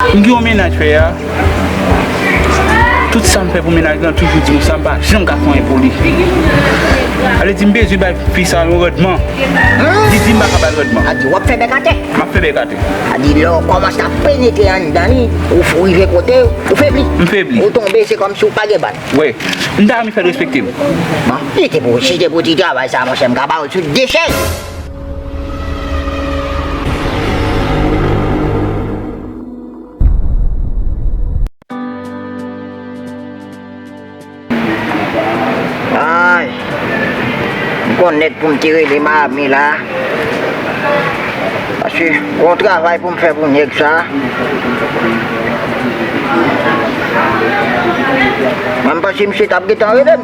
M gen yon mennaj fè a, tout sa m fè pou mennaj lan toujou di m sa m pa janm ka fè anyen pou li. Alè di m bezwen bay fi sa yon randman, li di m pa ka ba l randman. Adi w ap fè bèk atè. M ap fè bèk atè. Adi lè w kòmanse ap penetre anndan li, ou rive kote, ou febli. M febli. Ou tonbe se kòmsi ou pa gen bat. Wi. M ta renmen fè l respekte m. Bon, si se pou ti travay sa monchè m ka ba w l sou de chèz. Ay M konn nèg pou m te rele m ame la Paske gon travay pou m fè pou nèg sa Mwen m panse misye t ap gentan rele m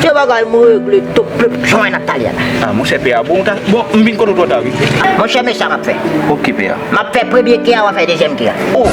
Ke bagay m regle tou plup jan mwen ak Talia la. Ah monchè P-a bon ou ta bon m vin konn ou twò ta wi. Monchè men sa map fè. Ok P-a. Map fè premye ke a wap fè dezyèm ke a. Oh.